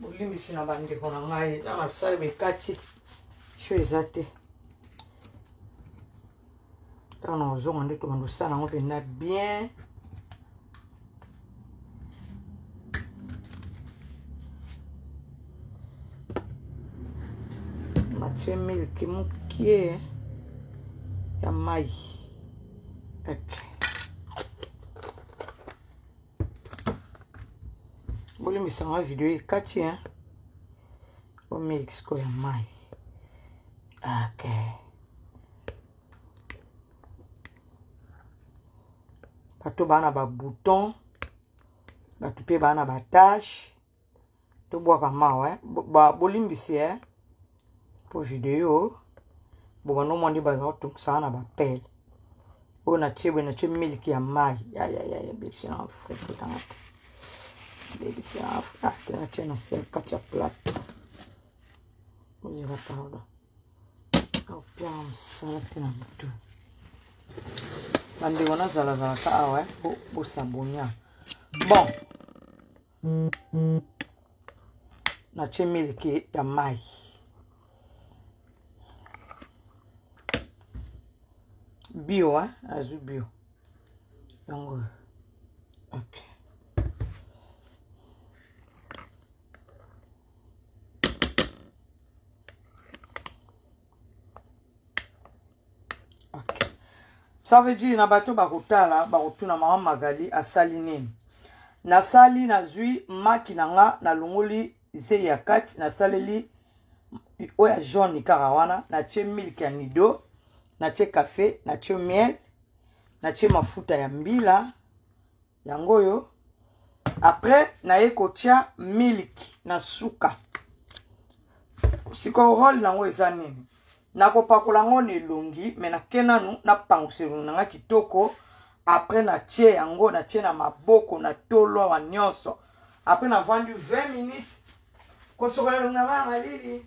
bolimbisi na bandeko na ngai na masala bekati sho eza te ntango na kozonga nde tobanda osala yango mpenza bien matye miliki mokie ya mai okay. bolimbisa nga video ekati hein? omiliki sikoyo ya mai okay. bato baa na babouton bato mpe baa na batashe tobwaka mawa eh? bolimbisi eh? mpo video bobanda omwa nde baza kotokisaka na bapele oyo natie boye natie miliki ya mai yayayaya bebisi na frepotanga te bebisi na te natie na se kati ya plate ozela pardon opia mosala te na motu bandeko nazalazalaka awa po bosabonia bon natie miliki ya mai bio hein? azwi bio yango ok ça veut dire na bato bakotala bakotuna mama magali asali nini nasali nazwi maki na nga nalongoli zei ya kati nasaleli oyo ya jaune kaka wana natie milk ya nido natie cafe natie miel natie mafuta ya mbila yango oyo après naye kotia milk na suka sikoyo role nango eza nini nakopakola yango na elongi me nake nanu napangusa elongi nanga kitoko apres natie yango natie na maboko na tolowa nyonso apres navandi 20 minutes kosokola elongi nanga ya malili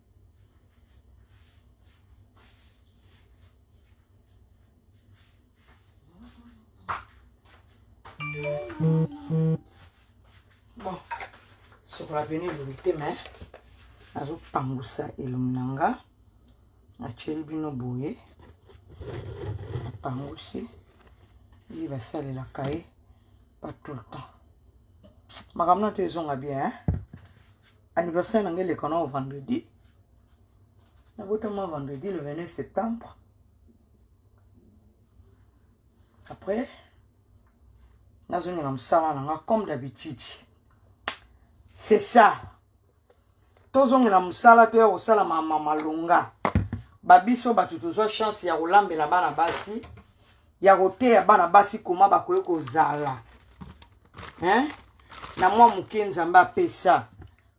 bon sokola pene elongi te me nazopangusa elongi na nga natyeli bino boye napangusi ye basalelaka ye pas tout le temps makambo na to ezonga bien hein? anniversaire na ngai eleka nao vendredi nabotama vendredi le 29 septembre après nazongi na mosala na nga comme d'habitude c'est ça tozongela mosala toya kosala mama malonga babiso bato tozwa chance ya kolambela bana basi ya koteya bana basi koma bakoki kozala hein? na mwa moke nzambe apesa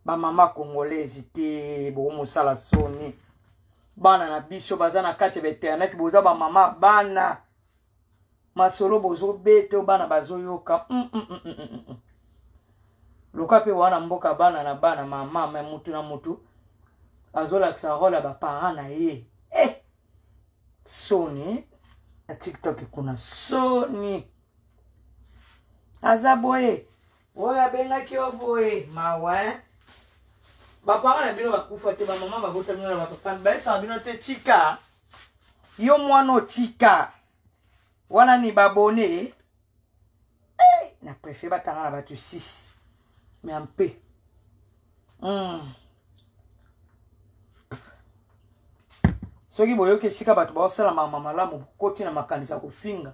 bamama congolaise te bokomosala soni bana na biso baza na kati ya bainternet boza bamama bana masolo bozobeta bana bazoyoka mm, mm, mm, mm, mm. mm. loka mpe wana mboka bana na bana mama me mutu na mutu azolakisa role ya baparent na ye eh! soni na tiktok kuna soni aza boye oyo abengaki yo boye mawa eh? bapama na bino bakufa te bamama babotami na bapapa bayesaka bino te tika yo mwana otika wana ni babone hey, eh, na préfère batanga na bato 6 mais en paix mm. soki boyoki esika bato baosala mama malamu bokoti na makanisi ya kofinga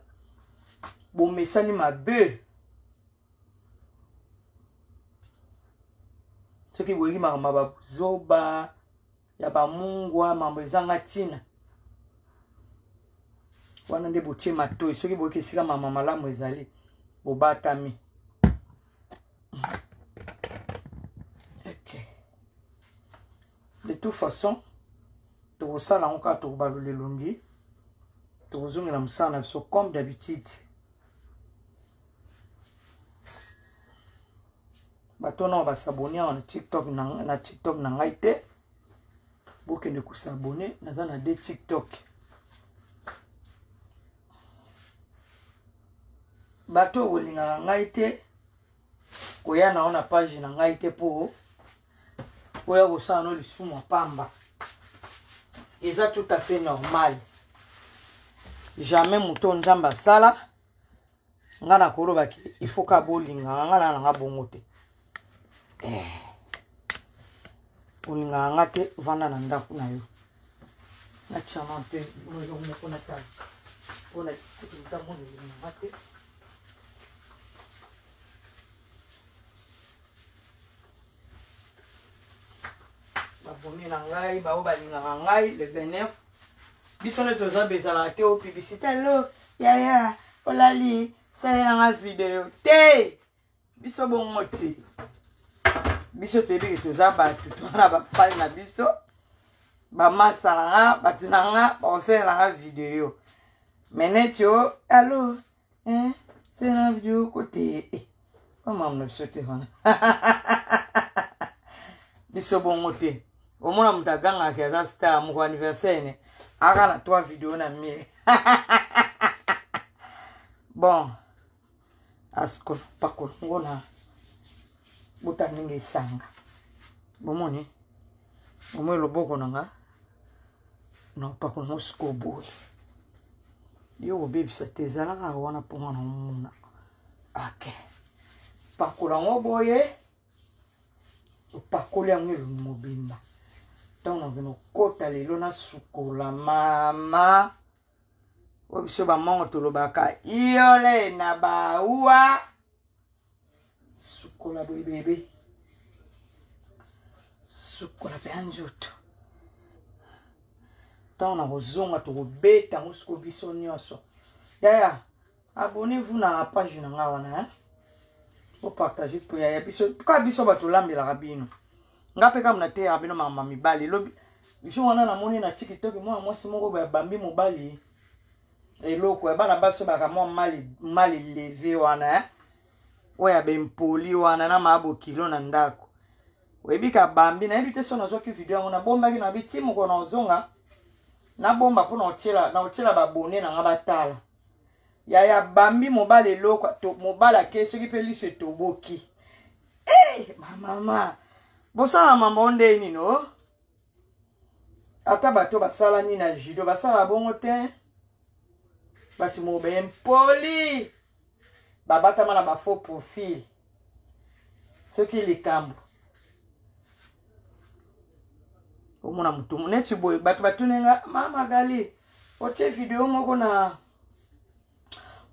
bomesani mabe soki boyoki makambo ya bazoba ya bamungwa mambo ezanga ntina wana nde botie matoi soki boyoki esika mama malamu ezali bobatami okay. de toute façon tokosala yango kaka tokobalola elongi tokozongela mosala na biso comme d'habitude bato wana basabone awa na tiktok na tiktok na ngai te bokende kosabone naza na de tiktok bato oyo bolingaka ngai te koya na yo na page na ngai te mpo oya kosala no lisumu ya pamba eza tout à fait normal jamais moto nzambe asala nga nakoloba ke ifoka bolingaka nga na nanga bongo te eh. olingaka nga te vanda na ndako na yo natyama mpe oyo moko natala mpona kutu ntango nolingaka te babomi na ngai baoyo balingaka ngai le 29 biso nde toza bezalaka te o publicité lo yaya olali salela nga video te biso bongo te biso toyebi ke toza bato twana bafani na biso bamasa na nga bato na nga bakosalela nga video me neti o alo eh, tena video kote eh, bamama na biso te wana biso bongo te omona moto agangaki aza star moko anniversaire ne aka na trois video na mire bon asikopakolongo na bota ndenge esanga bomoni bomoi loboko na nga na mpako nango sikoyo boye yo kobebisa te ezalaka wana mpo nga na omona ake pakola yango boye opakoli yango elongi mobimba ntango nakende okota lelo nasukola mama oyo biso bamongo tolobaka iole na baua sukola boye bebe sukola mpe ya nzoto ntango na kozonga tokobeta yango siko biso nyonso yaya abonnez-vous na page na ngai wana eh? opartage mpo yaya biso kaka biso bato olambelaka bino ngai mpe kaka nateyaka bino makambo mibali lobi jo wana namoni na tikitoki mwana mwasi moko babambi mobali eloko ya bana basi obaka mwa mal eleve wana eh? oyo ya bempoli wana na maa bokilo na ndako oyebi kabambi nayebi te so nazwaki video yango nabombaki na bi ti mokolo na ozonga nabomba mpo na otyela babone na nga batala yaya bambi mobali eloko mobali ake soki mpe liso etoboki e hey, mamama bosala mambo nde nino ata bato basalani na judo basala bongo te basi moko baye mpoli babatama na bafaux profil soki likambo omona motu neti boye bato batuni nga mama gali otie video moko na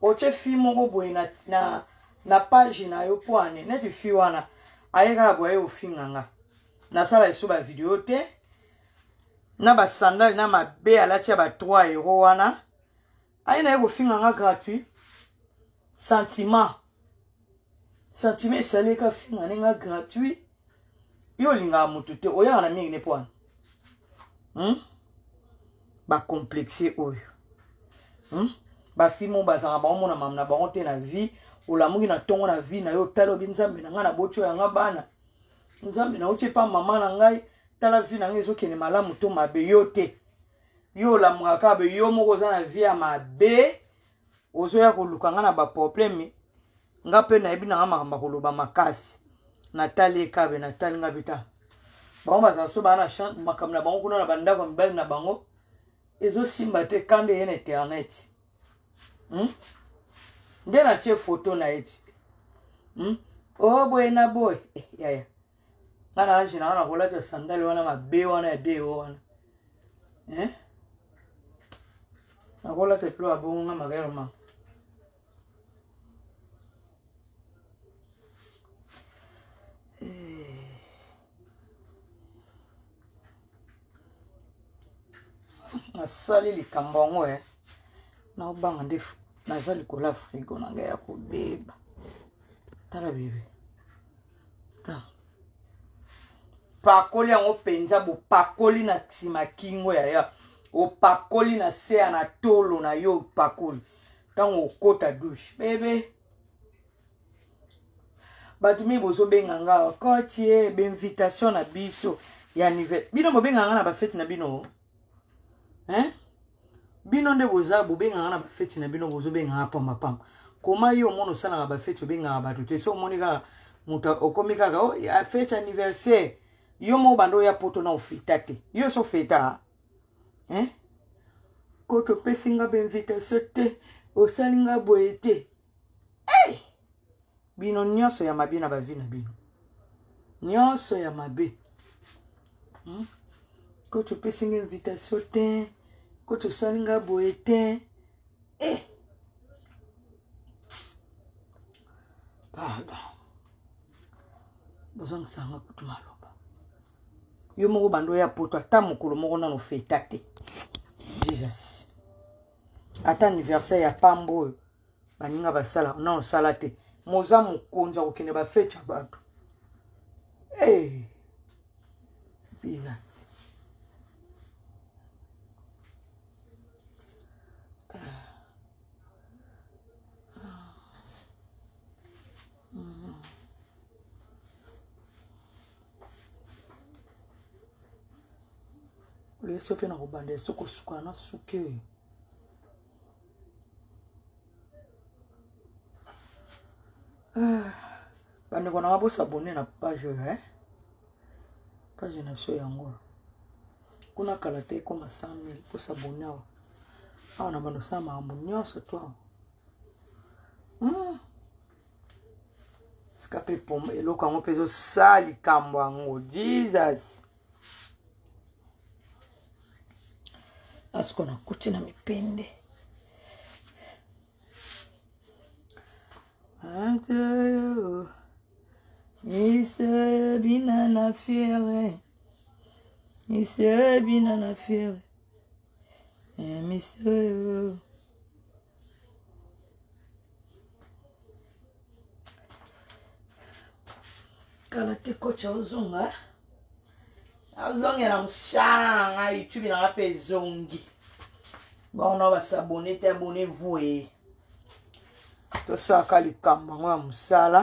otie fi moko boye na, na, na page na yo mpo ane neti fi wana aye kaka boye aye ofinga nga nasala liso bavideo te na basandale na mabe alati ya ba 3 euro wana aye naye kofinga nga gratuit sentiment sentiment esali eka finga ne nga gratuit yo olingaka motu te oyaka na mingi ne mpo wana hmm? bacomplexe oyo hmm? bafilme oyo bazalaka baomona mama na bango te na vie olamuki na ntongo na vie na yo otali obi nzambe na ngai na botio yanga bana nzambe na otie mpa mama na ngai tala vie na ngai ezokende malamu to mabe yo te yo olamukaka be yo moko oza na vie ya mabe ozoya koluka nga na baprobleme nga mpe nayebi na nga makambo ya koloba makasi natali ekabe natali nga bita bango bazala so baa na makambo na bango kuna na bandako ya mibali na bango ezosimba te kanda eye na internet hmm? nde natie foto na ye ti hmm? o oh, boye na boye eh, yaya nga na age nanga nakolata sandale wana mabe wana ya deo wana eh? nakolata epilo abongo nga magayalo manga nasali likambo yango e naobanga nde naza likolo ya frigo na ngai ya kobeba tala bebe ah. pakoli yango mpenza bopakoli na nsima kingo ya ya opakoli na se ya na tolo na yo opakoli ntango okota douche bebe bato mingi bozobenga nga kotie eh, bainvitation na biso ya anniversaire bino bobenga nga na bafete na bino hein bino nde boza bobengaka na bafeti na bino bozobengaka pambapamba koma yo omona osalaka bafeti obengaka bato te so omoni kaka moto okomi kaka oh, feti anniversaire yo moko banda oya poto na ofeta te yo so feta hein koto opesi nga bainvitation te osali nga boye te hey! bino nyonso ya mabe na bavi na bino nyonso ya mabe hmm? koto opesi nga invitation te koto osali nga boye te eh! pardon bozongisa nga kutu maloba yo moko bando ya poto ata mokolo moko nano feta te jesus ata anniversaire ya pamba oyo baninga basala na osala te moza mokonzi akokende bafete ya bato hey. Eh, jesus leso mpe na kobanda eso kosukana na suki oyo ah, bandeko na nga bosabone na page oyo eh? page na biso yango kuna kala te ekoma 100 000 bosabone awa awa na bandosala makambo nyonso to awa hmm. sika mpe poma eloko yango mpe ezosala likambo yango jesus asiko nakuti na mipende Anteo, ise bina na fiere, ise bina na fiere, emiseo. kala te coach ozonga azongela mosala na ngai youtube na ngai mpe ezongi bango nao basabone te abone voye tosalaka likambo yango ya mosala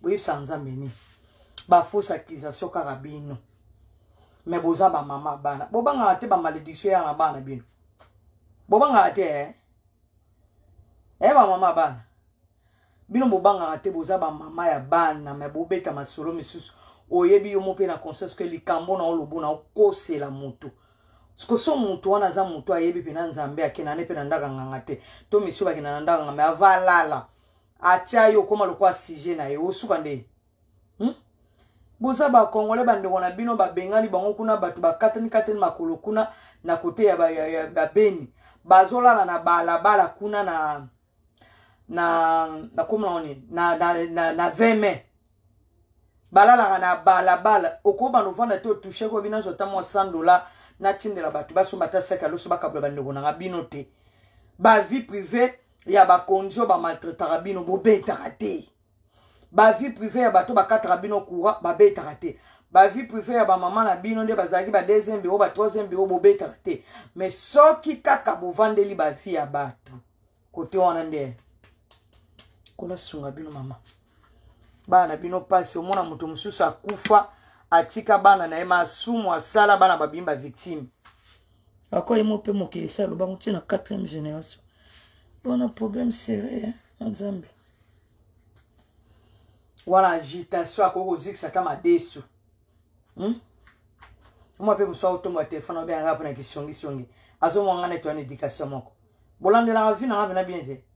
boyebisaka nzambe nini bafausse accusation kaka bino me boza bamama bana bobangaka te bamalédiction yanga bana bino bobangaka te e eh? eh, bamama bana bino bobangaka te boza bamama ya bana me bobeta masolo misusu oyebi yo mo mpe na conscience ke likambo na olobo na okosela motu sikoso motu wana aza motu ayebi mpena nzambe akenda ne mpe na ndaka nganga te to misu bakenda na ndaka nganga me avalala atya yo okóma lokola sujet na ye osuka nde hmm? boza bakongole bandeko na bino babengani bango kuna bato bakatani katani makolo kuna na kote ya babeni bazolala na balabala kuna na na nakomona oni na, na, na, na 20 mai balalaka na balabala okoba novanda te otouche ko bino azwa ta mwa 100 dollar natindela bato basomba ata saki aloso bakabola bandeko nanga bino te bavie privée ya bakonzi oyo bamaltraitaka bino bobetaka te bavie privée ya bato bakataka bino courant babetaka te bavie privée ya bamama na bino nde bazalaki ba deuxième biro ba troisième biro bobetaka te mais soki kaka bovandeli bavie ya bato kote wana nde kolasunga bino mama bana na bino mpasi omona moto mosusu akufa atika bana na ye masumu asala bana babimi bavictime akoye mo mpe mokili esi alobango ti na 4e génération mpona problème sérieux na nzambe wana agitation akoki kozikisa ata madesu hmm? mwa mpe mosu aotombola telefone obengaka mpona kisongisongi azomwanga neti wana éducation moko bolandelaka vi nanga mpena bien te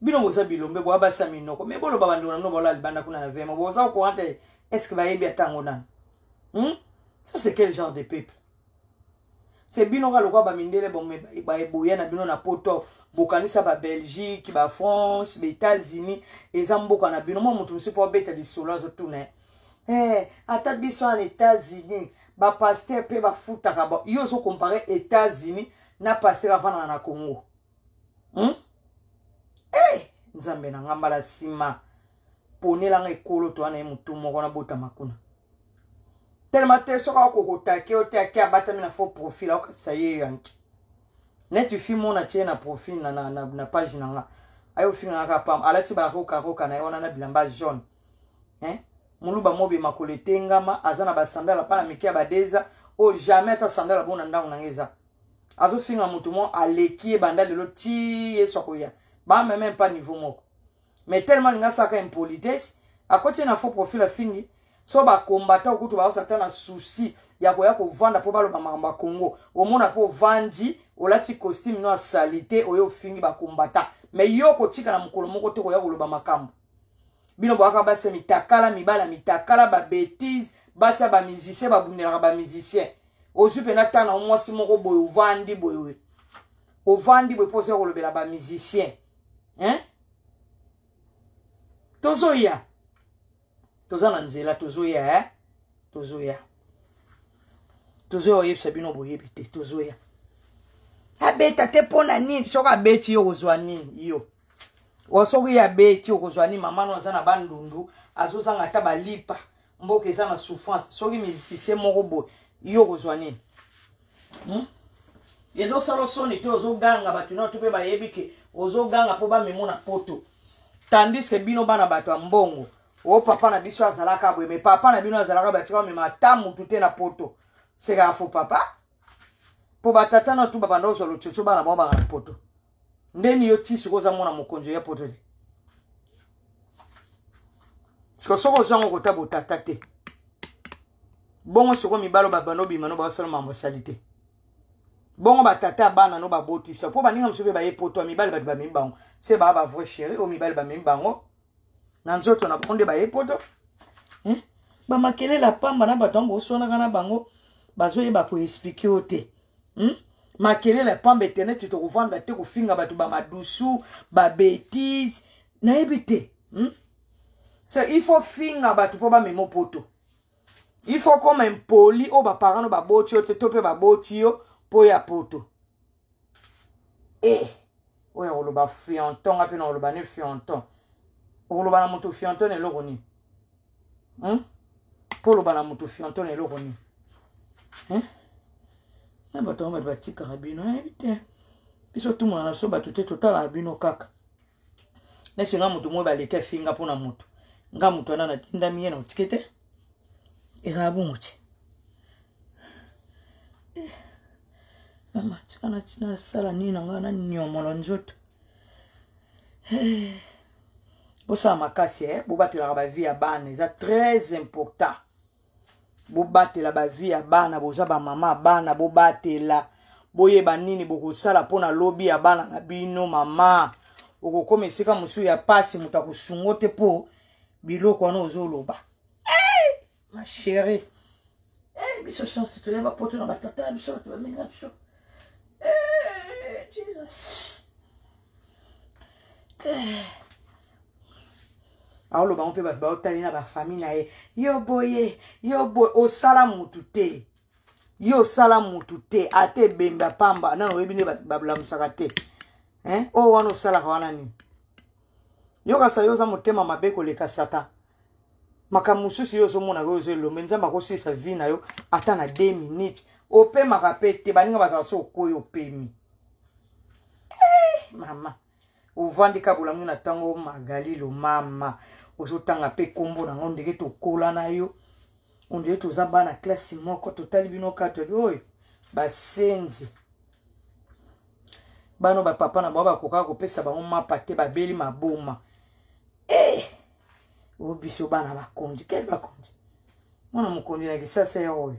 bino boza bilombe boya basi ya minoko me boloba bandeko na bino baola libanda kuna na vema boza okoran te estce bayebi ata yango nano hmm? ça c'est quel genre de peuple se bino kaka lokola bamindele boya na bino na poto bokanisa babelgique bafrance baétats-unis eza mboka na bino mwa moto mosusu mpo abeta lisolo azotuna eh, ata biso na états-unis bapaster mpe bafutaka yo ozokompare états-unis na paster avandaka na congo hmm? hey, eh, nzambe na nga mbala nsima ponela nga ekolo to wana ye motu moko nabotama kuna telema te soki akokotake yo te ake abatami na faux profil akokakisa ye yanki neti fi mona tie na profil na, na, na, na page na nga ayo ofingaka pam alati barokaroka na ye wana na bilamba jaune eh? moluba mobima koletengama aza na basandala bana mike ya badeza oyo jamais ata sandala bona ndako na nga eza azofinga moto mo aleki ye banda lelo ti yesu akoya bameme meme pas niveau moko mais tellement alingi asalaka impolitesse akoti ye na faux profil afingi so bakombata okutu baosa ata na souci ya koya kovanda mpo baloba makambo ya congo omona mpo ovandi olati costume no ya salite oyo ofingi bakombata mais yo okotika na mokolo moko te koya koloba makambo bino boyaka basi ya mitakala mibala mitakala babetise basi ya bamusicien babundelaka bamusicien ozwi mpena ntango na mwasi moko boye ovandi boye ovandi boye mpo ozoya kolobela bamusicien hein? tozoya toza na nzela tozoya eh? tozoya tozoya oyebisa bino boyebi te tozoya abeta te mpo na nini soki abeti yo ozwa nini yo wa soki ye abeti okozwa ni mama no aza na bandundu azozanga ata balipa mboka eza na souffrance soki musicien moko boye ye okozwa nini hmm? ezosala soni te ozoganga bato nio to mpe bayebi ke ozoganga mpo bamemo na poto tandis ke bino bana bato ya mbongo o oh, papa na biso azalaka boye me papa na bino azalaka batika bamema ata motu te na poto sekaka fo papa mpo batata na tu babanda ozwa lotsotso bana bango banga na poto ndeni yo ti sikoyo oza mwana mokonzi oya poto te sikoyo soki ozwa yango kota botata te bongo sikoyo mibalo babanda obima no baosala mambo asali te bongo batata ya bana no babotisa mpo baninga mosusu mpe baye poto ya mibali bato bamemi bango se baa bavrai chéri oyo mibali bamemi bango na nzoto na bango nde baye poto hmm? bamakelele ya pamba na bato yango boswanaka na bango bazoyeba koexplike yo te hmm? makelele ya pamba eteneti tokovanda te kofinga bato bamadusu babetise nayebi te hmm? so il faut finga bato mpo bamema poto il faut koma impoli oyo baparano baboti yo te to mpe baboti yo mpo ya poto eh oyo akoloba fionton nga mpe nakoloba ne fionton okoloba na moto fionton na eloko nini hmm? mpo oloba na moto fionton na eloko nini hmm? na bato yango bato batikaka bino nayebi te biso tumona na biso bato te totalaka bino kaka neti nga moto moi baleki afinga mpo na moto nga moto wana natindami ye na otike te ezala bongo te eh, mama tika nasala nini na ngai naniomola nzoto eh, bosala makasi e eh, bobatelaka bavie ya bana eza très important bobatela bavie ya bana boza bamama ya bana bobatela boyeba nini bokosala mpo na lobi ya bana na bino mama okokoma esika mosusu ya mpasi moto akosungo te mpo biloko wana ozoloba hey! Eh, ma chérie hey, eh, biso chance toya bapoto na batata na biso bato bamini na biso hey, eh, jesus aoloba ngo mpe bato baotali na bafamille na ye yo boye yo boye osala mutu te yo osala mutu te ata ebembe apamba nano oyebi nde bablamusaka te oyo wana osalaka wana nini yokasa yo oza motema mabe koleka satan makambo mosusu yo ozomona yo ozo elombe nzambe akosilisa vie na yo ata na 2 minutes opemaka mpe te baninga bazala so okoyi opemi hey, eh, mama ovandi ka bolamu na ntango magalilo mama ozotanga mpe nkombo nango ndenge tokola na yo ondenge toza bana klasi moko totali bino katoli oyo basenzi bano bapapa na bango bakokaka kopesa bango mapa te babeli maboma e eh, o biso bana bakonzi kele bakonzi mwana mokonzi na kisasa ya oyo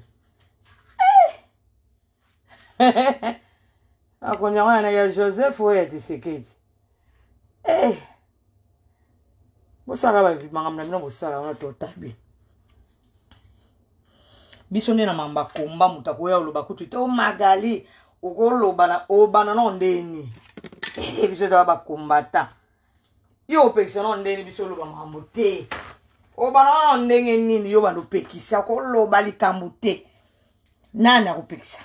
makonzi yango yana ya joseph oyo ya tisekedi eh. bosala makambo na bino bosala wana totabi biso nde na mamba komba moto akoya oloba kutu te o oh, magali okolobana obana nao ndeni eh, biso toya bakombata yo opekisa nao ndenge biso oloba makambo te obana nao ndenge nini yo bana opekisa koloba likambo te nani akopekisa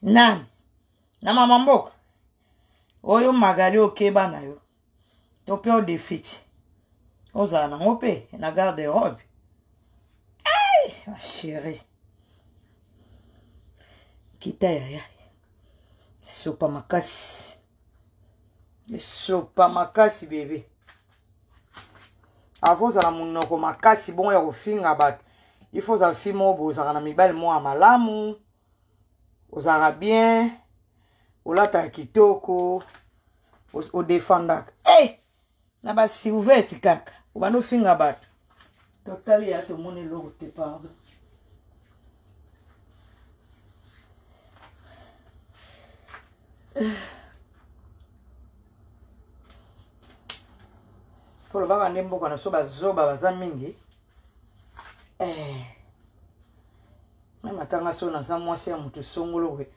nani na mama mboka oyo magali okeba na yo to mpe odefici ozala nango mpe na garde robe ai ma chérie kita yaya sopa makasi esopa makasi bebe avant ozala monoko makasi bongo ya kofinga bato il faut ozala fi moko bozalaka na mibali moko ya malamu ozalaka bien olataka kitoko odefendaka hey! na ba silvete kaka obanda ofinga bato totali ya tomoni eloko te pardon polobaka nde mboka na so bazoba baza mingi eh. na matanga so naza mwasi ya moto esongolo we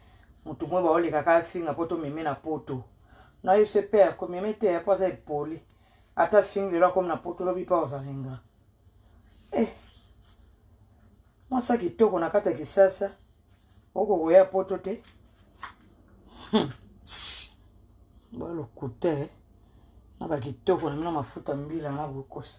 moto moko baolekaka afinga mpo tomeme na poto na ye se père komema eteya mpo aza epoli ata fingi lelo akomi na poto lobi mpo azalinga eh. mwasa kitoko na kati ya kisasa okokoya poto te hmm. balokute eh. na bakitoko na bino mafuta mbila na bokosa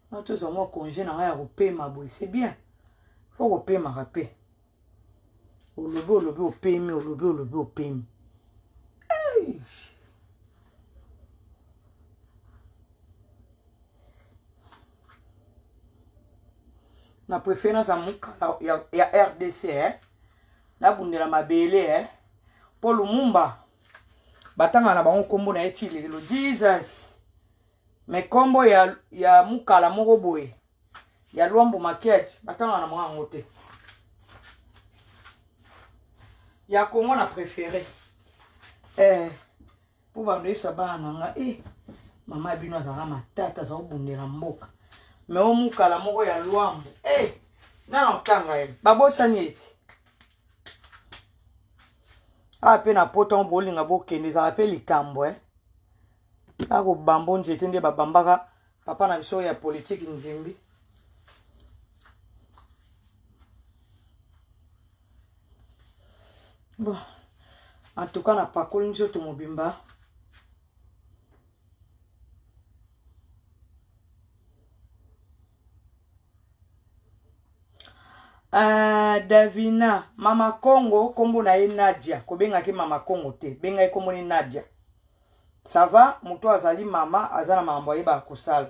nga tozwa mwa congé na ngai ya kopema boye c'est bien fo kopemaka mpe olobi olobi opemi olobi olobi opemi na préféré naza mokala ya, ya rdc eh? nabundela mabele eh? mpo lumumba batanga na bango nkombo na ye ti lelo jesus me nkombo ya, ya mukala moko boye ya lwambo makiadi batanga na mwa yango te ya kongo na préféré eh, mpo bando yebisa bana na nga e eh, mama ya bino azalaka matata aza kobundela mboka me o mukala moko ya lwambo e eh, nana kotanga ye babosani eti awa ah, mpe na poto yango bolinga bokende ezalaka mpe likambo e eh. akobamba nzete nde babambaka papa na biso ya politiki nzimbi bon en tout cas napakoli nzoto mobimba Uh, davina mama congo nkombo na ye nadia kobengaki mama congo te bengaki nkombo ni nadia ça va moto azali mama aza na makambo ayebaka kosala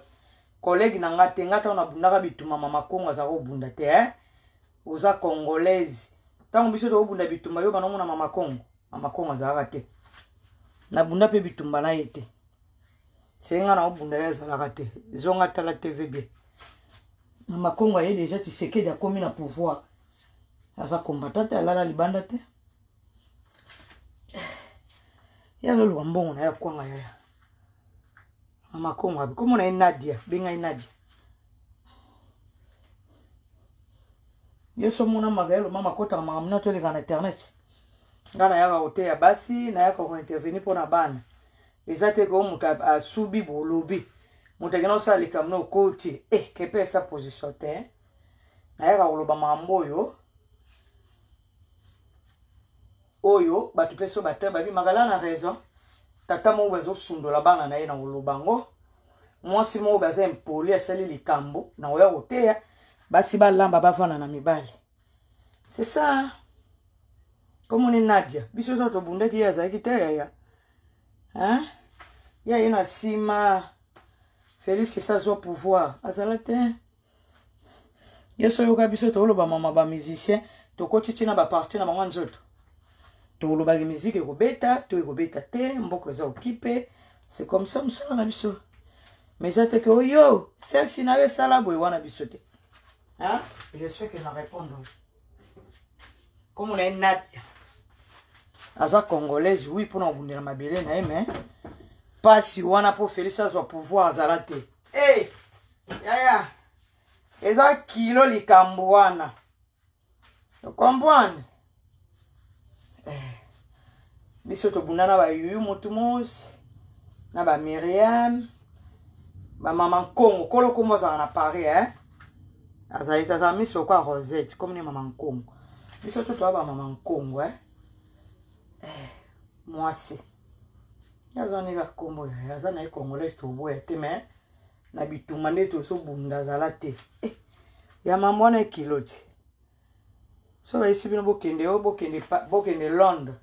kolege na nga te nga ntango nabundaka bituma mama kongo azaka kobunda te eh? oza congolaise ntango biso tokobunda bitumba yo bana omona mama kongo mama kongo azalaka te nabunda mpe bitumba na ye te se nga na obunda ye azalaka te zonga tala tv bien mama kongo aye deja tisekedi akomi na pouvoir aza combatant te alala libanda te ya loluka mbongo na ya kwanga yaya mama kongo abi komona ye nadia benga ye nadia yesu omona magaelo mama akotaka makambo nioto eleka na internet ngai nayaka koteya basi nayaka kointervenir mpo na bana eza te ko moto asubi bolobi moto akenda kosala likambo na okoti e eh, kepesa position te nayaka koloba makambo oyo oyo bato mpe so bate babi makala na raison tata moko bazosundola bana na ye na koloba yango mwasi moko baza impoli asali likambo na koya koteya basi balamba bavanda na mibali c'est ça komoni nadia biso nyonso tobundaki ye azalaki te yaya hein ya ye na nsima félix esi azwa pouvoir azala te yesu oyoka biso toloba mama bamusicien tokoti ntina baparti na bango ya nzoto tolobaki miziki ekobeta to ekobeta te mboka eza okipe se comme ça mosala na biso mais eza te ke oyo sexi na yo esala boye wana biso te je suis que na répondre komo na ye nadia aza congolaise wi mpona kobundela mabele na ye mais mpasi wana mpo félix azwa pouvoir azala te e yaya eza kilo likambo wana okomprendre eh. biso tobunda na bayuyu motu mosi na bamiriam bamama nkongo kolo nkombo azala na paris e eh? azali te azala miso okwa rosette komi ne mama nkongo biso to toya bamama nkongo e eh? mwasi ye azwa ndenge akombo aza na ye congolais toboya te mais na bitumba nde tozobunda azala te eh, ya mama wana ekilo ti so bayesi bino bokende yo bokende, bokende londres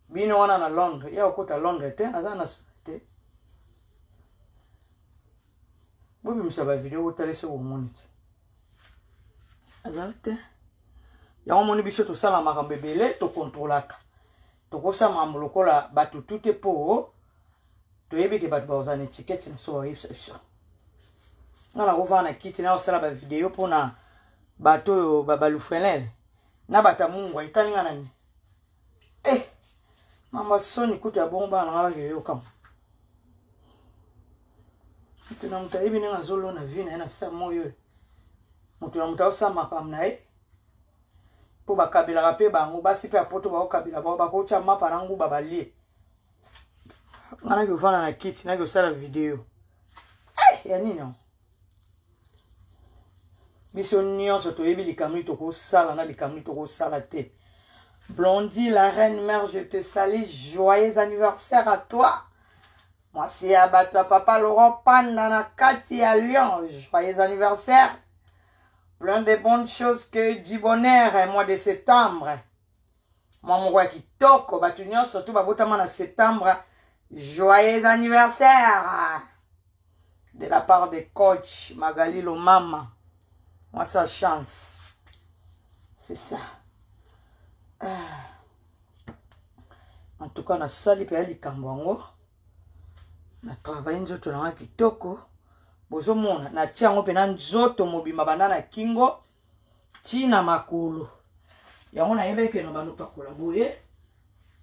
bino wana na londres ye akokota londres te aza na te bobimisa bavideo botala ese bomoni te azala te yango omoni biso tosala makambo ebele tokontrolaka tokosala makambo lokola bato tu te mpo toyebi ke bato bakozala na etikete na biso bayebisa biso nga nakovaa na kiti nakosala bavideo mpo na bato oyo balufelele na bato ya mungwa etali nga na nini eh, mama soni kutu ya bongo bana nanga bakeyokama moto na moto ayebi ndenge azolona vi na ye na sa moyo oyo moto na moto aosala makambo na ye mpo bakabelaka mpe bango basi mpe ya poto bakokabela bango bakotya mapa na nguba balie nga naki ofanda na kiti naki osala video hey, eh, ya nini yango biso nyonso toyebi likambo nini tokosala na likambo nini tokosala te blondie la reine mère je te salie joyeux anniversaire à toi mwasi ya bato ya papa laurent panda na kati ya lyon joyeux anniversaire plein de bonnes choses que du bonheur mois de septembre mwa moko ya kitoko bato nyonso to babotama na septembre joyeux anniversaire de la part de coach magali lomama mwa sa chance c'est ça ah. en tout cas nasali mpe ya likambo yango na travaille nzoto na nga kitoko bozomona natia yango mpena nzoto mobimba banda na kingo ntina makolo yango nayebaki ke na banopakola boye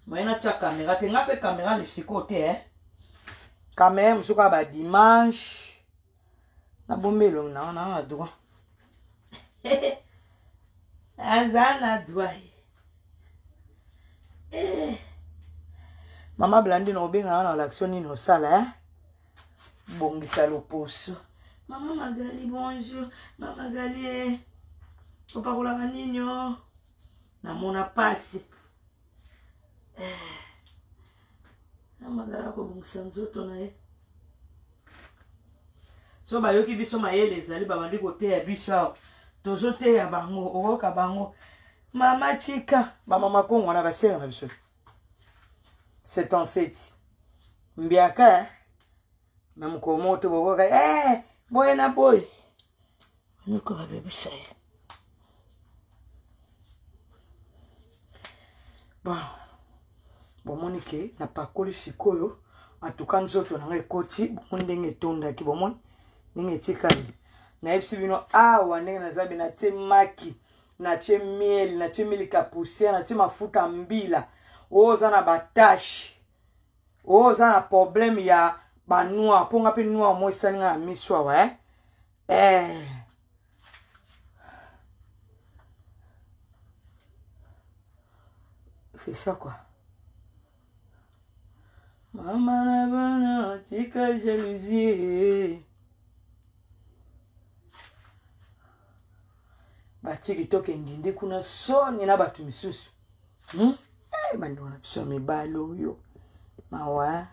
maye natia kamera te nga mpe kamera lisiko te eh? kamera mosuku ya badimanche nabombi elongi na wana na droit aza na droit eh. mama blandi na obenga wana olaction nini osala eh? bongisa loposo mama magali bonjour mama magali eh. opakolaka nini o oh? namona mpasi ntango azalaka kobongisa nzoto na ye so bayoki biso mayele ezali babandi koteya biso awa tozoteya bango okoyoka bango mama tika bamama kongo wana basenga na biso c'est enseti mbiaka eh? na mokolo moko te bokoka ee eh, boye na boye noko babebisa ye bon bomoni ke napakoli sikoyo antuka nzoto na ngai ekoti bomoni ndenge etondaki bomoni ndenge etikali nayebisi bino awa ndenge naza be natie maki natie miel natie milika poussière natie mafuta mbila oyo oza na batashe oza na problème ya banoir mpo nga mpe noir mo esali nga na miso awa eh? eh. c'est ça quoi mama na bana tika jalousie batiki toke ndindi kuna soni na bato misusu hmm? eh, bandeko na biso ya mibali oyo mawa eh.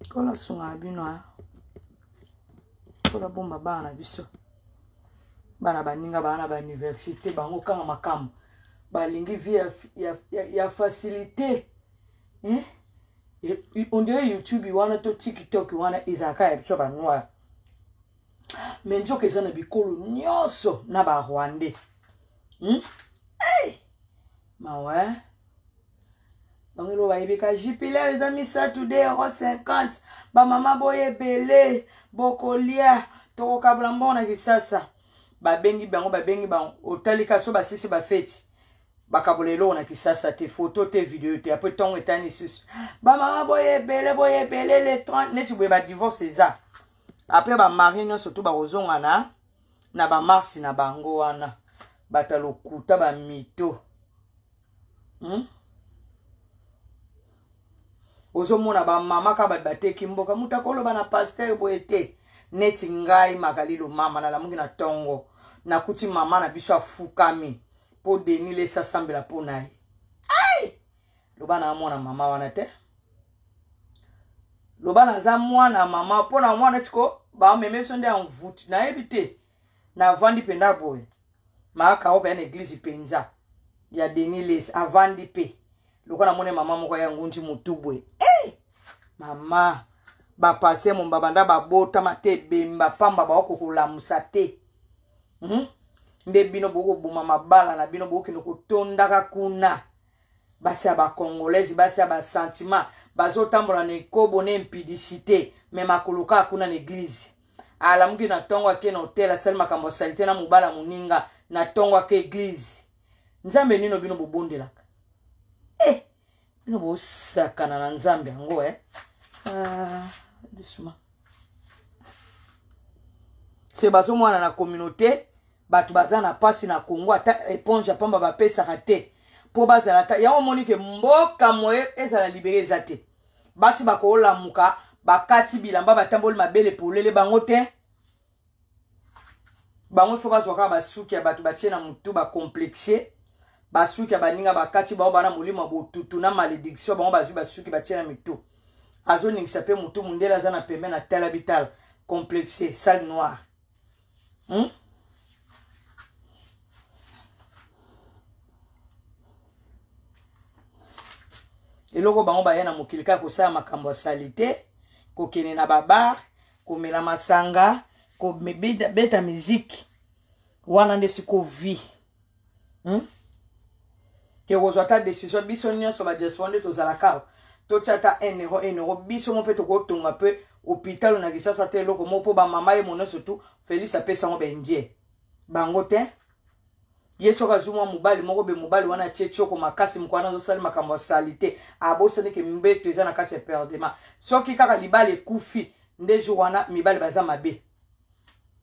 kola sunga na bino eh. kola bomba bana na biso bana baninga bana na bauniversité bango kanga makambo balingi vie ya, ya, ya, ya facilité eh? ondire youtube wana to tiktok wana ezalaka ya biso banoire me nzoka eza na bikolo nyonso na barwandais hmm? hey! mawa eh? bango elo bayebika jupilere eza misato de euro 50 bamama boye ebele bokolia tokokabola mbongo na kisasa babengi bango babengi bango otalika so basisi bafeti bakabola eloko na kisasa te foto te video te apres ntongo etani lisusu bamama boye ebele boye ebele le 30 neti boye badivorce eza apres bamari nyonso to bakozonga na na bamarsi na bango wana bato ya lokuta bamito hmm? ozomona bamama ka bato bateki mboka moto akoloba na paster boye te neti ngai makalilo mama nalamuki na ntongo nakuti mama na biso afukami mpo deni lesi asambela mpo na ye loba na mwana mama wana te loba naza mwana mama mpo na mwana tiko bameme biso nde envoute nayebi te navandi mpenza boye maaka oyo mpenza na eglize mpenza ya denis les avandi mpe lokola namoni mama moko ya ngunji motu boye hey! mama bapase momba banda babotama te ebemba pamba baoko kolamusa te hmm? nde bino bokoboma mabala na bino bokokende kotondaka kuna basi ya bacongolaise basi ya basentiment bazotambola na ekobo na impudicité me makolo kaka kuna na eglize alamuki na ntongo ake na hotel asali makambo ya salite na mobala moninga na ntongo ake eglize nzambe nino bino bobondelaka eh, bino bosakana na nzambe yango eh? ah, doucement se bazomwana na communauté bato baza na mpasi na congo ata eponge ya mpamba bapesaka te mpo bazala ta yango omoni ke mboka moye ezala libere eza te basi bakolamuka bakati bilamba batamboli mabele polele bango te bango ifo bazwa kaka basuki ya bato batie na motu bacomplexe basuki ya baninga bakati bango bana molimo ya botutu na malediction bango bazwi basuki batie na mitu azoningisa mpe motu mondele aza na pembe na tala bitala complexe sale noire Hein? eloko bango baya na mokili kaka kosala makambo ya salite kokende na babar komela masanga kobeta miziki wana nde siko vie hmm? ke kozwa ata décision biso nyonso badiaspora nde tozalaka totya ata 1 euro 1 euro biso mo mpe tokotonga mpe hôpital na kisasa te eloko moko mpo bamama ye mononso tu félix apesa yango baindien bango te ye soki azwi mwa mobali moko be mobali wana atie tioko makasi moko wana azosali makambo ya sali te abosani ke mbeto eza na kati ya perdema soki kaka libala ekufi nde jour wana mibali baza mabe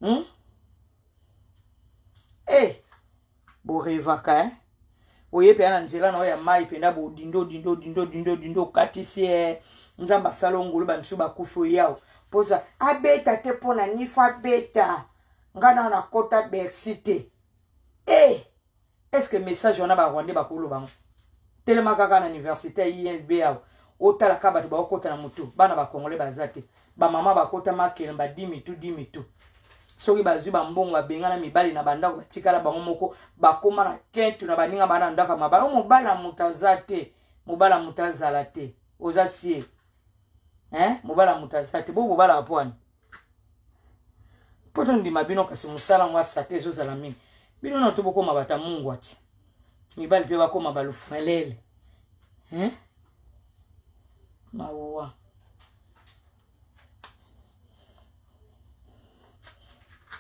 hmm? e eh, borevaka e eh? oye mpenza na nzela na oyo ya mai mpenza bodindo dindo dindo dindo dindo okatisi e nzambe asala ongolo bamisu bakufi oyawo mposa abeta te mpo na nifa abeta ngai nao nakota bersi te e eh! est ce que message wana ba rwandais bakoloba yango telema kaka na université ya inb awa otala kaka bato baokota na motu bana bakongole baza te bamama bakota makele badimi tu dimi tu soki bazwi bambongo babengana mibali na bandako batikala bango moko bakoma na kentu na baninga bana na ndako ya mabala o mobali ya moto aza te mobali ya moto azala te oza sie eh? mobali ya moto aza te bo bobalaka mpo wani mpo tondima bino kasi mosala yango asate ezozala mingi bino na to bokoma bata mungwa ti mibali mpe bakoma balufrelele eh? mawa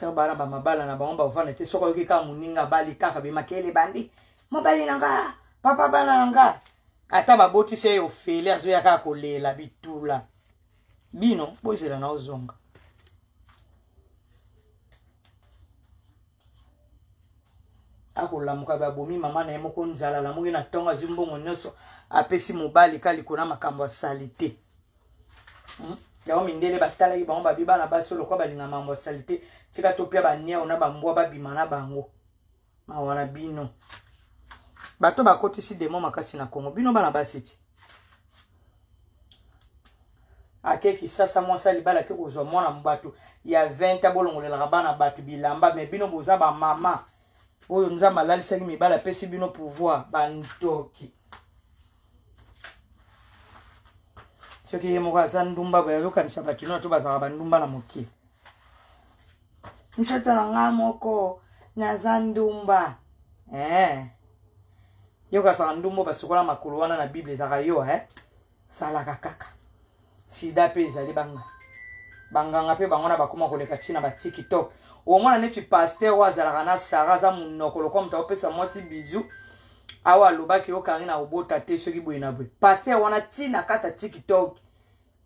ta bana bamabala na bango bavanda te soki oyoki kaka moninga abali kaka bimakele bandi mobali na nga papa bana na nga ata babotisi ye ofele azoya kaka kolela bitula bino bozela na ozonga akolamuka babomi mama na ye moko nzala alamuki na ntongo azwi mbongo nyonso apesi mobali ka likolo na makambo ya salite hmm? yango mindele batalaki bango babi bana basi oyo lokola balinga mambo ya salite tika topya baniao na bambwa babima na bango mawa na bino bato bakotisi demo makasi na kongo bino bana basi ti ake kisasa mwasi alibala ake kozwa mwana bato ya 20 a bolongolelaka bana bato bilamba me bino boza bamama oyo nzambe alalisaki mibala apesi bino pouvoir bandoki soki ye moko aza ndumba boye azokanisa bato nio to bazalaka bandumba na mokili nzoto na ngai moko naza ndumba eh. yokasaka ndumba basukola makolo wana na bible ezalaka yo eh? salaka kaka sida mpe ezali banga banganga mpe bango na bakoma koleka ntina ba tiktok omona neti paster oyo azalaka na sara aza monoko lokola moto akopesa mwasi bizu awa alobaki yo karina obota te soki boye na boye paster wana ntina kata tiktok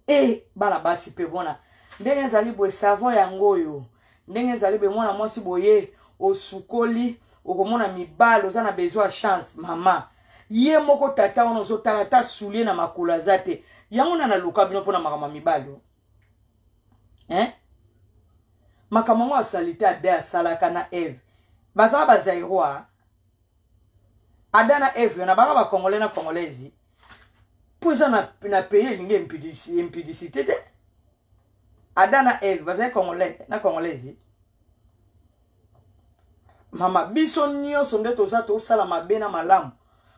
e eh, bana basi mpe bona ndenge ezali boye savon yango oyo ndenge ezali boye mwana mwasi boye osukoli okomona mibale oza na besoin ya chance mama ye moko tata wana ozotala ata soulier na makolo aza te yango na naluka bino mpo na makambo ya mibali o eh? makambo yango asalite ada asalaka na eve bazala bazairoa ada na eve na bana bacongolais na congolaise mpo eza na, na pays elingi impudicité te ada na eve bazali congolais na congolaise mama biso nyonso nde toza tosala mabe na malamu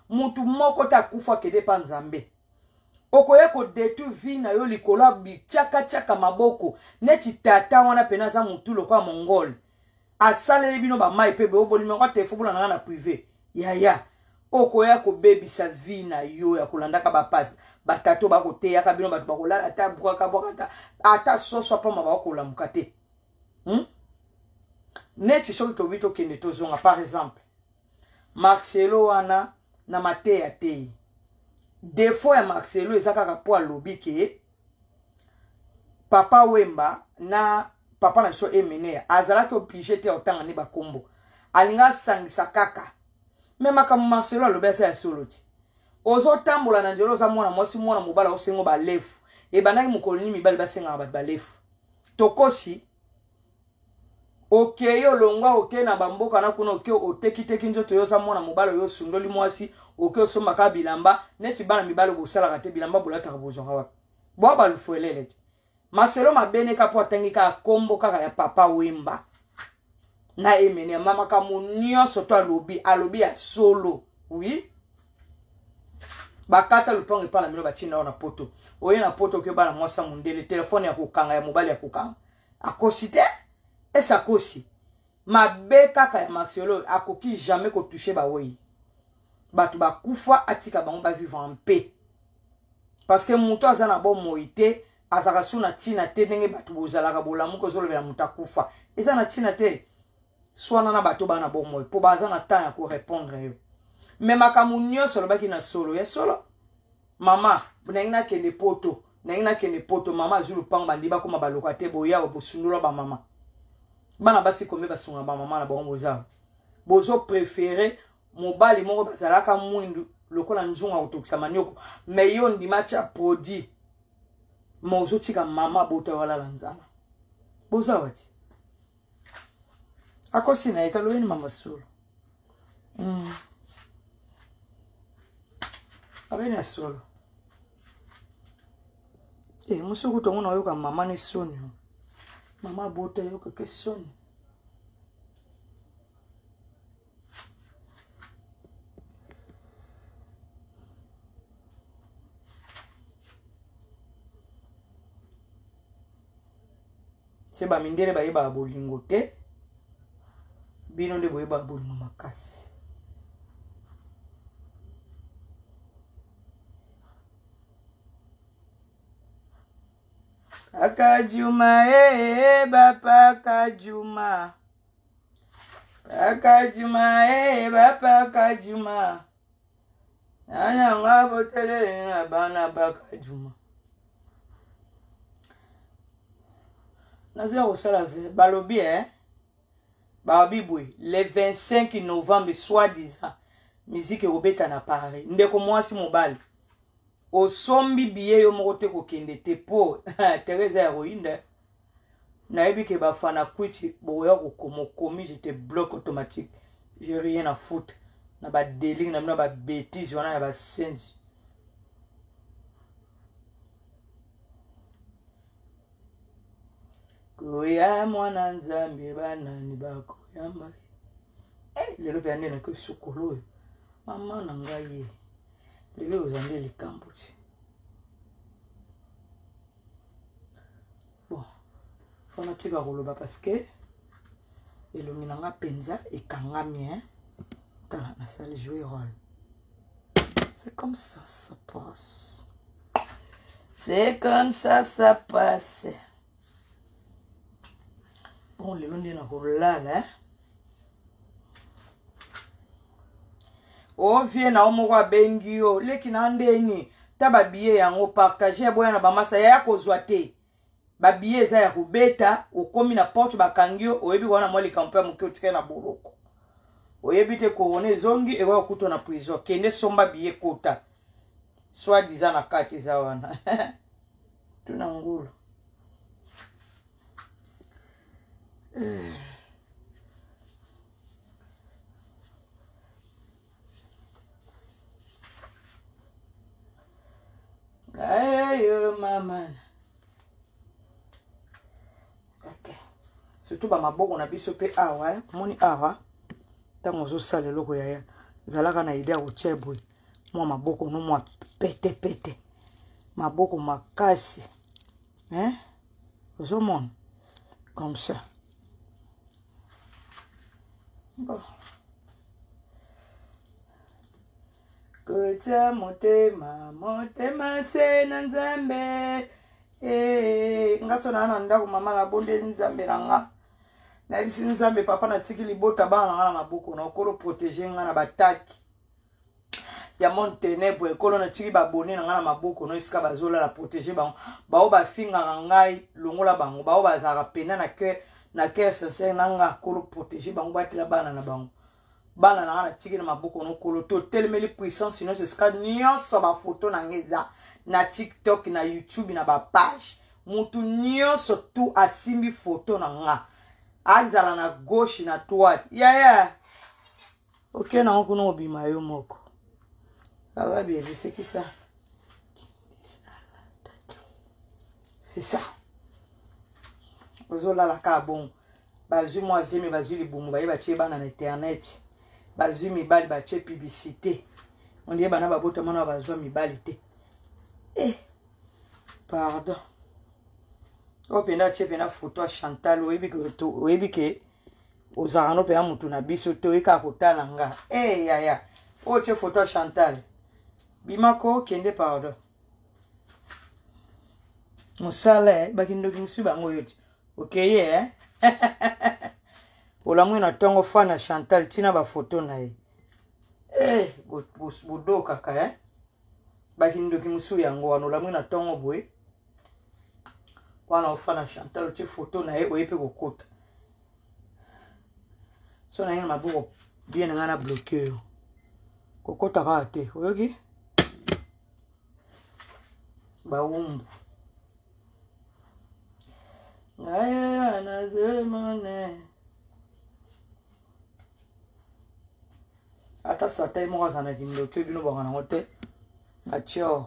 mutu moko te akufa akende mpa nzambe okoya kodetruire vie na yo likolo ya bityakatyaka maboko neti tata wana mpena aza motu lokola mongole asaleli bino bamai mpe bobolimaka telefo bolanda nga na prive yaya okoya kobebisa vie na yo ya kolandaka bapasi batato bakoteyaka bino bato bakolala ata bwakabwaka ata soso apamba bakolamuka te hmm? neti soki tobi tokende tozonga par exemple marcelo wana na mateya te defaut ya marcelo eza kaka mpo alobi ke papa wemba na papa na biso emeneya azalaki oblige te ya kotanga nde bakombo alinga asangisa kaka me makambo marcelo alobi aza ya solo ti ozotambola na nzela oza mwana mwasi mwana mobala osengo balefu ebandaki mokolo nini mibali basengaka bato balefu tokosi okei okay, olongwa okei okay, na bamboka na kuna okei okay, otekiteki nzoto yo oza mwana mobali oyo osundoli mwasi okei osombaka bilamba neti bana mibali bosalaka te bilamba bolataka bozwaka wapi bwa balufuelele te maselo mabeneka mpo atangi kaka nkombo kaka ya papa wemba nga emene ya mama kamo nyonso to alobi alobi ya solo oui bakata lopango epai na bino batie nao na poto oye na poto oke bana mwasi ya mondele telefone ya kokanga ya mobali ya kokanga akosi te ese akosi mabe kaka ya maxiolo akoki jamais kotouche bawei bato bakufa atika bango bavivre en paix parce que moto aza na bomoi te azalaka su na ntina te ndenge bato bozalaka bolamuka ozolobela moto akufa eza na ntina te swana na bato bana bomoi mpo baza na ntango ya korepondre yo me makambo nyonso olobaki na solo ya solo mama nangi nakende poto nangi nakende poto mama azwi lopango bandi bakoma baloka te boyawa bosundola bamama bana basi kombe basunga bamama na bango bozawa bozo prefere mobali moko bazalaka mwindu lokola nzungu akotokisa manioko me yo ondima tya produit ma ozotika mama abota yo alala nzala boza wati akosi na ye taloyeni mama solo mm. abeni ya solo e eh, mosi okuta ngo nayoka mama ne soni mama abota yokaka soni se bamindele bayebaka bolingo te bino nde boyebaka bolingo makasi kaka juma ee eh, eh, bapa kajuma bakajuma ee eh, bapakajuma nananga boteleli na bana bakajuma nazoya kosala balobi e eh? balobi boye le 25 novembre soit disant miziki ekobeta na paris ndeko mwasi mobali osombi biye yo moko te kokende te mpo teresa ya koyinda nayebi ke bafana kwiti bokoya kokoma okomi je te bloque automatique je rien à foutre na badeling na bino na babétise wana ya basenzi koya mwana nzambe banani bakoyamba hey, eh, lelo mpe ande nake sukulu oyo mama na ngai lelo oza nde likambo te bon mpo natika koloba parce que elongi na nga mpenza ekangami hein? tala nasali joue role c'est comme ça ça passe c'est comme ça ça passe bon lelo nde nakolala hein? ovie na yo moko abengi yo leki na ndeni ta babiye yango partage ya boya na bamasa yaya kozwa te babiye eza ya kobeta okomi na porte bakangi yo oyebi wana mwa likampo ya moke otikali na boloko oyebi te korona ezongi ekoya kuto na prison kende somba biye kota soit diza na kati eza wana tuna ngulu ayo mama okay. surtout bamaboko na biso mpe awa eh. moni awa ntango ozosala eloko yaya zalaka na ide ya kotya boye mwa maboko no mwa petepete maboko makasi eh? ozomona comme ça bon kotya motema motema se na nzambe ee eh, nga so naa na ndako mama nabondeli nzambe na nga nayebisi nzambe papa natiki libota bana na nga na maboko na okolo protege nga na bataki ya monde ténèbre ekolo natiki babone na ngai na maboko no esika bazolala protege bango baoyo bafingaka ngai longola bango baoyo bazalaka pena na cœur na cœur sincère na ngai akolo protege bango batela bana na bango bana na ngai natiki na maboko no kolo totelemeli puissance nyonso esika nyonso bafoto na ngai eza na tiktok na youtube na bapage motu nyonso tu asimbi foto na ngai azala na gauche na droite yaya yeah, yeah. oke nango kuna obima yo moko aba biebisekisa c'est ça ozolala kaka bongo bazwi mwa zemi bazwi libumu baye batye bana na internet bazwi mibali batye publicité ondie bana babotama na bazwa mibali te eh pardon oyo mpenza atye mpenza foto ya chantal oyebi ke ozalaka no mpenza motu na biso te oye kaka kotala nga e hey, yaya oyo tye foto ya chantal bimako kende pardon mosala eh, bakindoki mosusu bango oyo ti okeye eh? olamwi na ntongo fa na chantal ntina bafoto na ye hey, eh, bodokaka eh? bakindoki mosusu yango wana olamwi na ntongo boye wana ofa na chantal otie foto na ye oye mpe kokota so na ye na maboko bien na ngai na bloke yo kokota kaka te oyoki bawumbu ngaye anazemone ata sata ye moko azala na kindoki bino bwaka nango te batior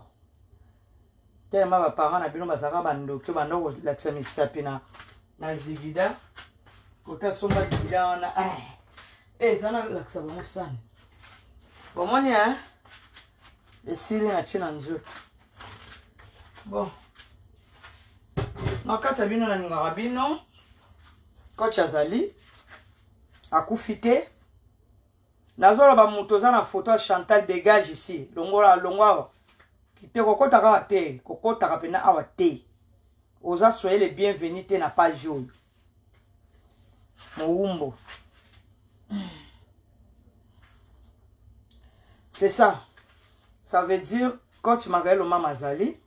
telema ba parents na bino bazalaka ba ndoki ba ndoko lakisa misapi na na zigida kota somba zigida wana eh eza na lakisa bango sani bomoni hein esili na tie na nzoto bon nakata bino nalingaka bino koch azali akufi te nazoloba moto oza na foto ya chantal dégage ici longola longo awa te kokotaka awa te kokotaka mpena awa te oza soye le bienvenu te na page oyo mowumbo c'est ça ça veut dire coach magael omama azali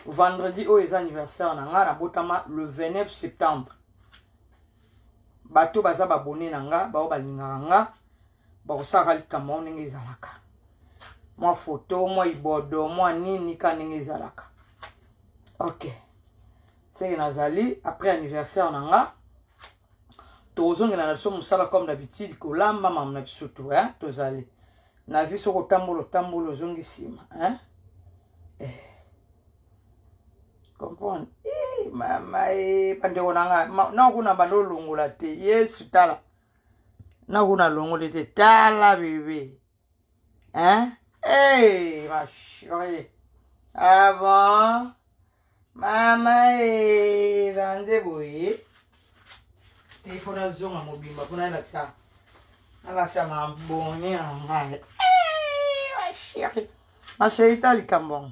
vendredi oyo eza anniversaire na ngai nabotama le 29 septembre bato baza babone na nga bao balingaka nga bakosalaka likambo yango ndenge ezalaka mwa foto mwa ibodo mwa nini ka ndenge ezalaka ok seke nazali après anniversaire na nga tokozongela na biso mosala comme d'habitude kolamba mama na biso to eh? tozali na vie soki otambola otambola ozongi nsima eh? eh. comprendre eh, mama e eh, bandeko na ngai nakuna banda olongola te yesu tala nakuna longoli te tala bebe hein hey, eh, ma chérie ah bon mama e eza nde boye te mpo nazonga mobimba mpo nalakisa nalakisa mabone na ngai ma chérie ma chérie ta likambo yango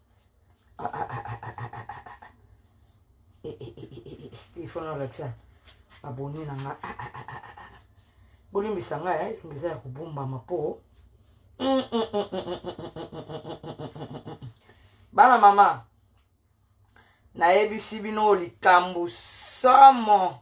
telefone alakisa aboni na nga bolimbisa nga elongi eza ya kobombama mpo bana mama nayebisi bino likambo somo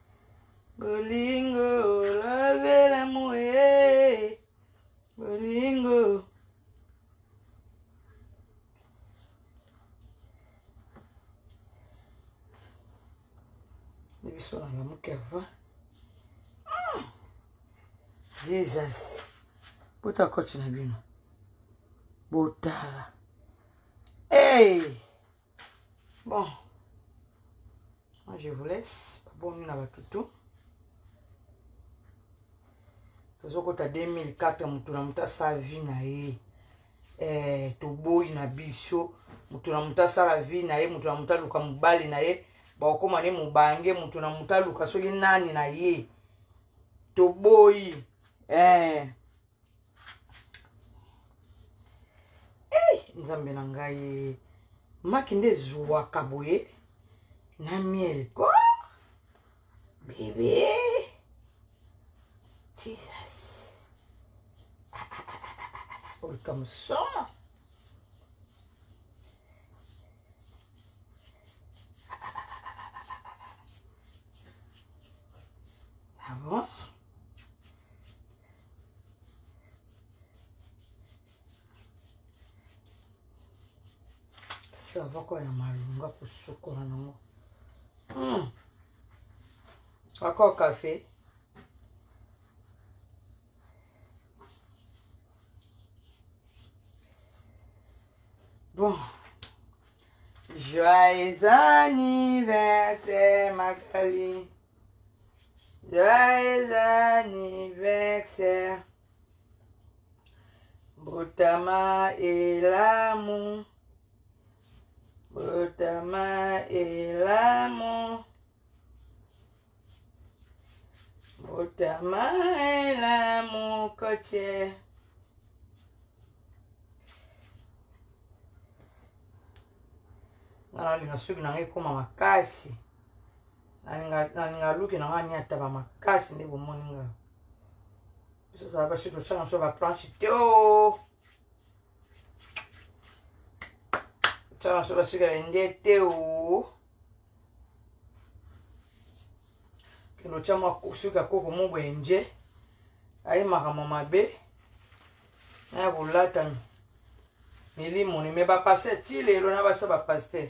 bolingo lobela moye bolingo biso na lamuki ava ah! jesus bota koti na bino botala hey! bon moi je vous laisse babomi na batutu tozokota 2004 motu na motu asala vie na ye eh, toboyi na biso motu na motu asala vie na ye motu na motu aluka mobali na ye bakokoma ne mobange motu na motu aluka soki nani na ye toboyi eh. hey, nzambe na ngai maki nde ezuwaka boye na miel ko bebe jesus olika mosoma savoko ya malunga kosukola nango hmm. ako kafe bon joyeux anniversaire magali Joyeux anniversaire, Botama et l'amour, Botama et l'amour, Botama et l'amour côtier. Nana linga soki nanga ekoma makasi. nalinga luki na ngai niataba makasi nde bomoni nga basi tosala so baplanche te o oh! sala so basika bende te o oh! kendo tya mwa suka koko mo boye nje ayi makambo mabe na ya kolatami milimo ni me bapase ti lelo na basa bapaster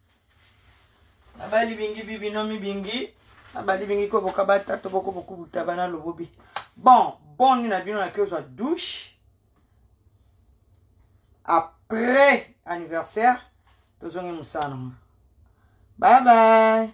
abali bingi bibino mibingi abali bingi ko bokabata to boko bokubuta bana lobobi bon boni na bino nake ozwa douche après anniversaire tozongi mosala nango bye bye